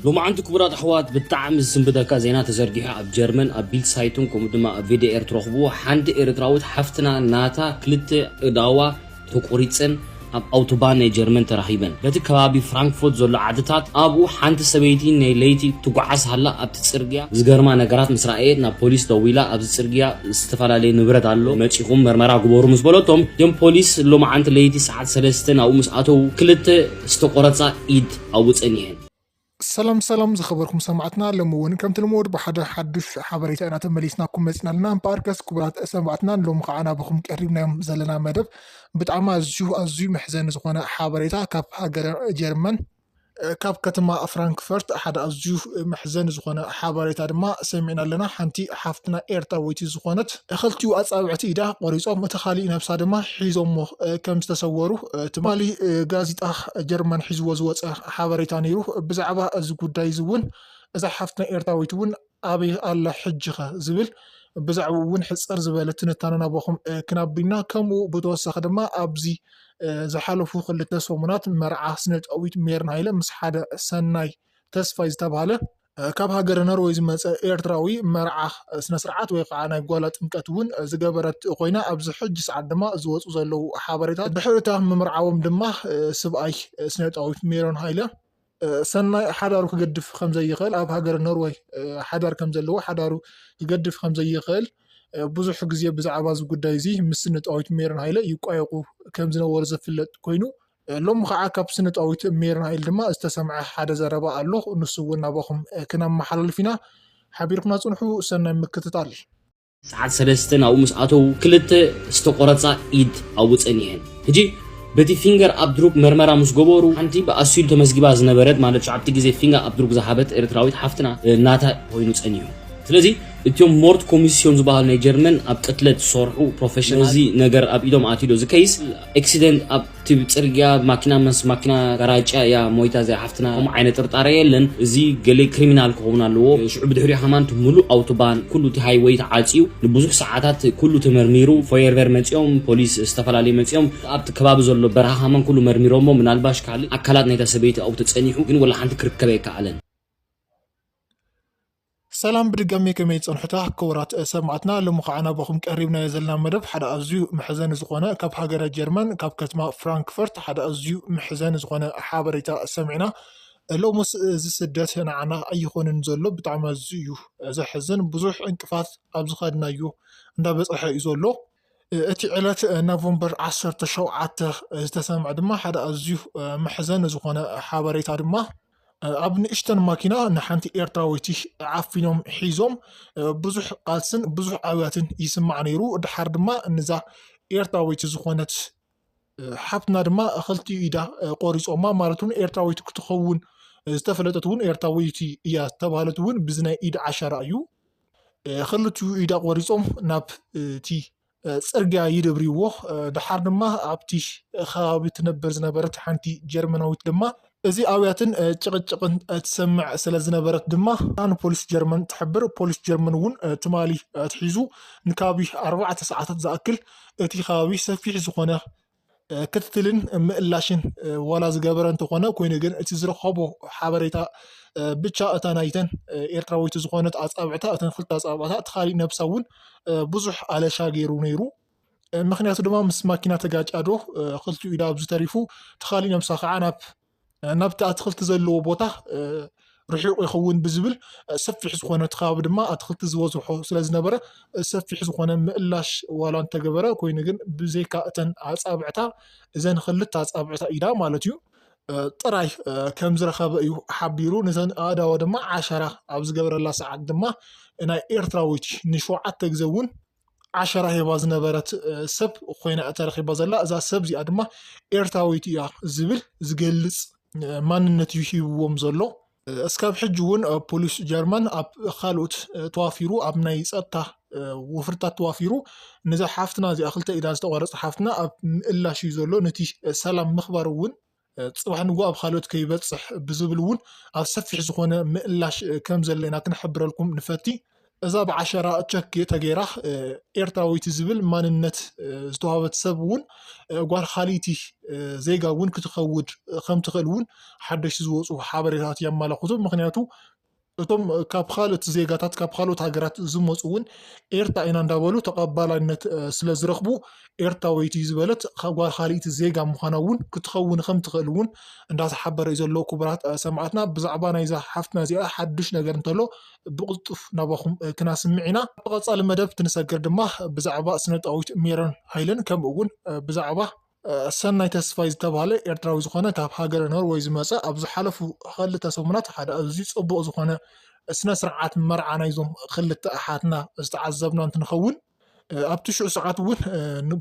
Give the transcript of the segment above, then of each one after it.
ሎማዓንቲ ክቡራት ኣሕዋት ብጣዕሚ ዝስንብደካ ዜና ተዘርጊሑ ኣብ ጀርመን ኣብ ቢልድ ሳይቱን ከምኡ ድማ ኣብ ቪዲኤር ትረኽብዎ ሓንቲ ኤርትራዊት ሓፍትና ናታ ክልተ እዳዋ ተቆሪጸን ኣብ ኣውቶባን ናይ ጀርመን ተራኺበን በቲ ከባቢ ፍራንክፎት ዘሎ ዓድታት ኣብኡ ሓንቲ ሰበይቲ ናይ ለይቲ ትጓዓዝ ሃላ ኣብቲ ጽርግያ ዝገርማ ነገራት ምስ ረኣየት ናብ ፖሊስ ደዊላ ኣብዚ ጽርግያ ዝተፈላለየ ንብረት ኣሎ መጺኹም መርመራ ግበሩ ምስ በለቶም እቶም ፖሊስ ሎማዓንቲ ለይቲ ሰዓት ሰለስተ ናብኡ ምስ ኣተዉ ክልተ ዝተቆረጻ ኢድ ኣብኡ ጸኒሐ። ሰላም ሰላም ዝኸበርኩም ሰማዕትና ሎሚ ውን ከምቲ ልሙድ ብሓደ ሓዱሽ ሓበሬታ ኢና ተመሊስናኩም መጺና ኣለና እምበኣርከስ ክቡራት ሰማዕትና ንሎሚ ከዓ ናብኹም ቀሪብናዮም ዘለና መደብ ብጣዕሚ ኣዝዩ ኣዝዩ መሕዘኒ ዝኾነ ሓበሬታ ካብ ሃገረ ጀርመን ካብ ከተማ ፍራንክፈርት ሓደ ኣዝዩ መሕዘኒ ዝኾነ ሓበሬታ ድማ ሰሚዕና ኣለና ሓንቲ ሓፍትና ኤርትራወይቲ ዝኾነት ክልቲኡ ኣጻብዕቲ ኢዳ ቆሪጾም እቲ ካሊእ ነብሳ ድማ ሒዞሞ ከም ዝተሰወሩ ትማሊ ጋዜጣ ጀርመን ሒዝዎ ዝወጸ ሓበሬታ ነይሩ። ብዛዕባ እዚ ጉዳይ እዚ እውን እዛ ሓፍትና ኤርትራዊት እውን ኣበይ ኣላ ሕጂኸ ዝብል ብዛዕብኡ እውን ሕጽር ዝበለ ትንታነ ናባኹም ክናቢ ኢና። ከምኡ ብተወሳኺ ድማ ኣብዚ ዝሓለፉ ክልተ ሰሙናት መርዓ ስነጥበዊት ሜሮን ሃይለ ምስ ሓደ ሰናይ ተስፋይ ዝተባህለ ካብ ሃገረ ኖርወይ ዝመጸ ኤርትራዊ መርዓ ስነ ስርዓት ወይ ከዓ ናይ ጓላ ጥምቀት እውን ዝገበረት ኮይና ኣብዚ ሕጂ ሰዓት ድማ ዝወፁ ዘለዉ ሓበሬታት ድሕሪ እታ ምምርዓዎም ድማ ስብኣይ ስነጣዊ ሜሮን ሃይለ ሰናይ ሓዳሩ ክገድፍ ከም ዘይኽእል ኣብ ሃገረ ኖርወይ ሓዳር ከም ዘለዎ ሓዳሩ ክገድፍ ከም ዘይኽእል ብዙሕ ግዜ ብዛዕባ እዚ ጉዳይ እዚ ምስ ስነጣዊት ሜሮን ሃይለ ይቋየቑ ከም ዝነበሩ ዝፍለጥ ኮይኑ ሎሚ ኸዓ ካብ ስነ ጣዊት ሜርናኤል ድማ ዝተሰምዐ ሓደ ዘረባ ኣሎ ንሱ እውን ናባኹም ክነመሓላልፍ ኢና ሓቢርኩና ፅንሑ ሰናይ ምክትታል። ሰዓት ሰለስተ ናብኡ ምስ ኣተዉ ክልተ ዝተቆረጻ ኢድ ኣብኡ ጸኒሐን። ሕጂ በቲ ፊንገር ኣብድሩግ መርመራ ምስ ገበሩ ሓንቲ ብኣሲሉ ተመዝጊባ ዝነበረት ማለት ሸውዓተ ግዜ ፊንገር ኣብድሩግ ዝሃበት ኤርትራዊት ሓፍትና ናታ ኮይኑ ጸኒሑ። ስለዚ እትም ሞርድ ኮሚስዮን ዝበሃሉ ናይ ጀርመን ኣብ ቅትለት ዝሰርሑ ፕሮፈሽናል ነዚ ነገር ኣብ ኢዶም ኣትዩ ዶ እዚ ከይስ ኤክሲደንት ኣብቲ ጽርግያ ማኪና ምስ ማኪና ጋራጭያ እያ ሞይታ እዚኣ ሓፍትና ከምኡ ዓይነት ጥርጣረ የለን እዚ ገሌ ክሪሚናል ክኸውን ኣለዎ ሽዑ ብድሕሪኡ ከማን እቲ ምሉእ ኣውቶባን ኩሉ እቲ ሃይወይ ተዓጽዩ ንብዙሕ ሰዓታት ኩሉ ተመርሚሩ ፎየርቨር መጺኦም ፖሊስ ዝተፈላለዩ መጺኦም እቲ ኣብቲ ከባቢ ዘሎ በረኻ ከማን ኩሉ መርሚሮሞ ምናልባሽ ካልእ ኣካላት ናይታ ሰበይቲ ኣብኡ ተጸኒሑ ግን ወላ ሓንቲ ክርከብ ኣይከኣለን። ሰላም ብድጋሜ ከመይ ጸንሑታ ክቡራት ሰማዕትና ሎሚ ካዓ ናባኹም ቀሪብናዮ ዘለና መደብ ሓደ ኣዝዩ መሕዘኒ ዝኾነ ካብ ሃገረ ጀርመን ካብ ከትማ ፍራንክፈርት ሓደ ኣዝዩ መሕዘኒ ዝኾነ ሓበሬታ ሰሚዕና ሎምስ እዚ ስደት ንዓና ኣይኾንን ዘሎ ብጣዕሚ ኣዝዩ እዩ ዘሕዝን ብዙሕ ዕንቅፋት ኣብ ዝኸድናዮ እንዳበጸሐ እዩ ዘሎ እቲ ዕለት ኖቨምበር ዓሰርተ ሸውዓተ ዝተሰምዐ ድማ ሓደ ኣዝዩ መሕዘኒ ዝኾነ ሓበሬታ ድማ ኣብ ንእሽተን ማኪና ንሓንቲ ኤርትራዊቲ ዓፊኖም ሒዞም ብዙሕ ቃልስን ብዙሕ ኣብያትን ይስማዕ ነይሩ። ድሓር ድማ ንዛ ኤርትራዊቲ ዝኾነት ሓፍትና ድማ ክልቲኡ ኢዳ ቆሪፆማ ማለት እውን ኤርትራዊት ክትኸውን ዝተፈለጠት እውን ኤርትራዊት እያ ዝተባሃለት እውን ብዚ ናይ ኢድ ዓሻራ እዩ ክልቲኡ ኢዳ ቆሪፆም ናብ እቲ ፅርግያ ይደብርዎ ድሓር ድማ ኣብቲ ከባቢ ትነበር ዝነበረት ሓንቲ ጀርመናዊት ድማ እዚ ኣውያትን ጭቕጭቕን ትሰምዕ ስለዝነበረት ድማ ንፖሊስ ጀርመን ትሕብር። ፖሊስ ጀርመን እውን ትማሊ ኣትሒዙ ንካቢ ኣርባዕተ ሰዓታት ዝኣክል እቲ ከባቢ ሰፊሕ ዝኾነ ክትትልን ምእላሽን ዋላ ዝገበረ እንተኾነ ኮይኑ ግን እቲ ዝረኸቦ ሓበሬታ ብቻ እታ ናይተን ኤርትራዊት ዝኾነት ኣጻብዕታ እተን ክልተ ኣጻብዕታ እቲ ካሊእ ነብሳ እውን ብዙሕ ኣለሻ ገይሩ ነይሩ። ምክንያቱ ድማ ምስ ማኪና ተጋጭያ ዶ ክልቲኡ ኢዳ ኣብዚ ተሪፉ ተኻሊ ነብሳ ከዓ ናብ ናብቲ ኣትክልቲ ዘለዎ ቦታ ርሒቑ ይኸውን ብዝብል ሰፊሕ ዝኾነ እቲ ከባቢ ድማ ኣትክልቲ ዝበዝሖ ስለ ዝነበረ ሰፊሕ ዝኾነ ምእላሽ ዋላ እንተገበረ ኮይኑ ግን ብዘይካ እተን ኣፃብዕታ እዘን ክልተ ኣፃብዕታ ኢዳ ማለት እዩ ጥራይ ከም ዝረኸበ እዩ ሓቢሩ ነተን ኣእዳወ ድማ ዓሸራ ኣብ ዝገብረላ ሰዓት ድማ ናይ ኤርትራዊት ንሸውዓተ ግዜ እውን ዓሸራ ሂባ ዝነበረት ሰብ ኮይና ተረኪባ ዘላ እዛ ሰብ እዚኣ ድማ ኤርትራዊት እያ ዝብል ዝገልፅ ማንነት እዩ ሂብዎም ዘሎ እስካብ ሕጂ እውን ፖሊስ ጀርመን ኣብ ካልኦት ተዋፊሩ ኣብ ናይ ፀጥታ ወፍርታት ተዋፊሩ ነዛ ሓፍትና እዚኣ ክልተ ኢዳ ዝተቆረፀ ሓፍትና ኣብ ምእላሽ እዩ ዘሎ ነቲ ሰላም ምክባር እውን ፅባሕ ንግሆ ኣብ ኻልኦት ከይበፅሕ ብዝብል እውን ኣብ ሰፊሕ ዝኾነ ምእላሽ ከም ዘሎ ኢና ክንሕብረልኩም ንፈቲ። እዛ ብዓሸራ ቸክ ተገይራ ኤርትራዊት ዝብል ማንነት ዝተዋህበት ሰብ እውን ጓል ኻሊእቲ ዜጋ እውን ክትኸውድ ከም ትኽእል እውን ሓደሽቲ ዝወፁ ሓበሬታት የማላኽቱ። ምክንያቱ እቶም ካብ ካልኦት ዜጋታት ካብ ካልኦት ሃገራት ዝመፁ እውን ኤርትራ ኢና እንዳበሉ ተቐባላይነት ስለዝረኽቡ ኤርትራወይቲ ዝበለት ጓል ካልኢት ዜጋ ምዃና እውን ክትኸውን ከም ትኽእል እውን እንዳተሓበረ እዩ ዘሎ ክቡራት ሰማዕትና ብዛዕባ ናይዛ ሓፍትና እዚኣ ሓድሽ ነገር እንተሎ ብቕልጡፍ ናባኹም ክናስምዕ ኢና ኣብ ቀፃሊ መደብ ክንሰግር ድማ ብዛዕባ ስነጣዊት ሜሮን ሃይለን ከምኡ እውን ብዛዕባ ሰናይ ተስፋይ ዝተብሃለ ኤርትራዊ ዝኾነ ካብ ሃገረ ኖርወይ ዝመጸ ኣብ ዝሓለፉ ኸልተ ሰሙናት ሓደ ኣዝዩ ጽቡቕ ዝኾነ ስነ ስርዓት መርዓ ናይዞም ኽልተ ኣሓትና ዝተዓዘብና እንትንኸውን ኣብ ትሽዑ ሰዓት እውን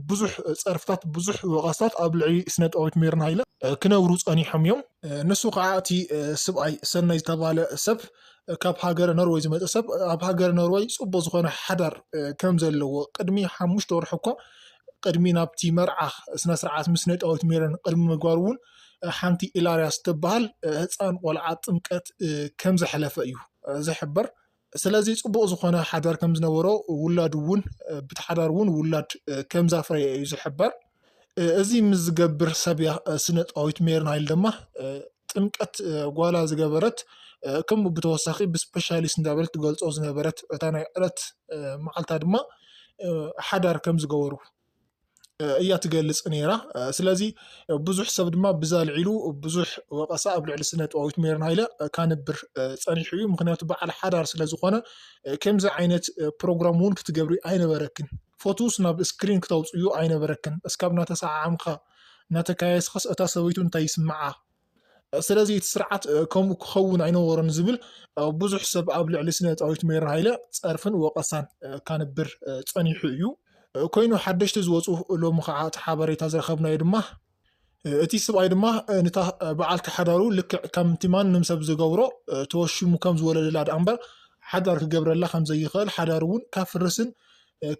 ብዙሕ ፀርፍታት ብዙሕ ወቀስታት ኣብ ልዕሊ ስነ ጥበዊት ሜሮን ሃይለ ክነብሩ ፀኒሖም እዮም ንሱ ከዓ እቲ ስብኣይ ሰናይ ዝተባሃለ ሰብ ካብ ሃገረ ኖርወይ ዝመፀ ሰብ ኣብ ሃገረ ኖርወይ ፅቡቅ ዝኮነ ሓዳር ከም ዘለዎ ቅድሚ ሓሙሽተ ወርሒ እኳ ቅድሚ ናብቲ መርዓ ስነስርዓት ምስ ነጣዊት ሜሮን ቅድሚ ምግባሩ እውን ሓንቲ ኢላርያስ ትበሃል ህፃን ቆልዓ ጥምቀት ከም ዘሕለፈ እዩ ዝሕበር። ስለዚ ፅቡቕ ዝኾነ ሓዳር ከም ዝነበሮ ውላድ እውን ብቲ ሓዳር እውን ውላድ ከም ዛፍረየ እዩ ዝሕበር። እዚ ምስ ዝገብር ሰብ እያ ስነጣዊት ሜሮን ሃይል ድማ ጥምቀት ጓላ ዝገበረት ከምኡ ብተወሳኺ ብስፔሻሊስት እንዳበለት ትገልፆ ዝነበረት እታ ናይ ዕለት መዓልታ ድማ ሓዳር ከም ዝገበሩ እያ ትገልፅ ነይራ ስለዚ ብዙሕ ሰብ ድማ ብዛ ልዒሉ ብዙሕ ወቀሳ ኣብ ልዕሊ ስነ ጥበዊት ሜሮን ሃይለ ካንብር ፀኒሑ እዩ ምክንያቱ በዓል ሓዳር ስለ ዝኾነ ከምዚ ዓይነት ፕሮግራም እውን ክትገብሪ ኣይነበረክን ፎቱስ ናብ እስክሪን ክተውጽእዮ ኣይነበረክን እስካብ ናተሰዓዓምካ ናተካየስካስ እታ ሰበይቱ እንታይ ይስምዓ ስለዚ እቲ ስርዓት ከምኡ ክከውን ኣይነበሮን ዝብል ብዙሕ ሰብ ኣብ ልዕሊ ስነ ጻዊት ሜሪ ሃይለ ጸርፍን ወቀሳን ካንብር ጸኒሑ እዩ ኮይኑ ሓደሽቲ ዝወጹ ሎሚ ከኣ እቲ ሓበሬታ ዝረከብናዮ ድማ እቲ ስብኣይ ድማ ንታ በዓልቲ ሓዳሩ ልክዕ ከምቲ ማንም ሰብ ዝገብሮ ተወሺሙ ከም ዝወለደላ ደኣ እምበር ሓዳር ክገብረላ ከም ዘይኽእል ሓዳሩ እውን ከፍርስን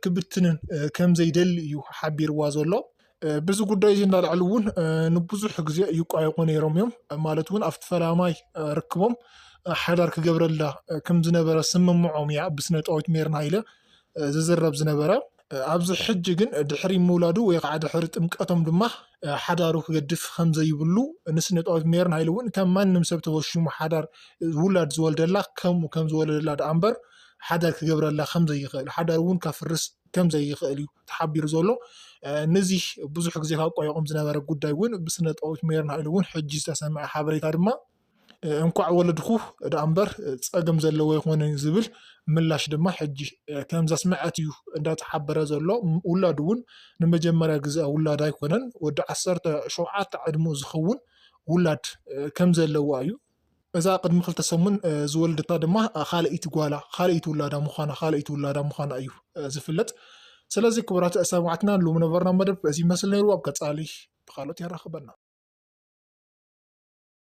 ክብትንን ከም ዘይደሊ እዩ ሓቢርዋ ዘሎ። ብዚ ጉዳይ እዚ እንዳልዕሊ እውን ንብዙሕ ግዜ ይቋየቁ ነይሮም እዮም ማለት እውን ኣብቲ ፈላማይ ርክቦም ሓዳር ክገብረላ ከም ዝነበረ ስምምዖም እያ ብስነ ጣዊት ሜርና ሃይለ ዝዝረብ ዝነበረ። ኣብዚ ሕጂ ግን ድሕሪ ምውላዱ ወይ ኸዓ ድሕሪ ጥምቀቶም ድማ ሓዳሩ ክገድፍ ከምዘይብሉ ንስነጥበብ ሜሮን ሃይለ እውን ከም ማንም ሰብ ተወሽሙ ሓዳር ውላድ ዝወልደላ ከምኡ ከም ዝወለደላ ደኣ እምበር ሓዳር ክገብረላ ከም ዘይኽእል ሓዳር እውን ከፍርስ ከም ዘይኽእል እዩ ተሓቢሩ ዘሎ ነዚ ብዙሕ ግዜ ካብ ቆየቆም ዝነበረ ጉዳይ እውን ብስነጥበብ ሜሮን ሃይለ እውን ሕጂ ዝተሰምዐ ሓበሬታ ድማ እንኳዕ ወለድኩ ደኣ እምበር ጸገም ዘለዎ ኣይኮነን ዝብል ምላሽ ድማ ሕጂ ከም ዘስመዐት እዩ እንዳተሓበረ ዘሎ። ውላዱ እውን ንመጀመርያ ግዘ ውላዳ ኣይኮነን ወዲ ዓሰርተ ሸውዓተ ዕድምኡ ዝኸውን ውላድ ከም ዘለዋ እዩ። እዛ ቅድሚ ክልተ ሰሙን ዝወለደታ ድማ ካልኣይቲ ጓላ ካልኣይቲ ውላዳ ምዃና ካልኣይቲ ውላዳ ምዃና እዩ ዝፍለጥ። ስለዚ ክቡራት ሰማዕትና ሎሚ ነበርና መደብ እዚ ይመስል ነይሩ ኣብ ቀጻሊ ብካልኦት የራኽበና።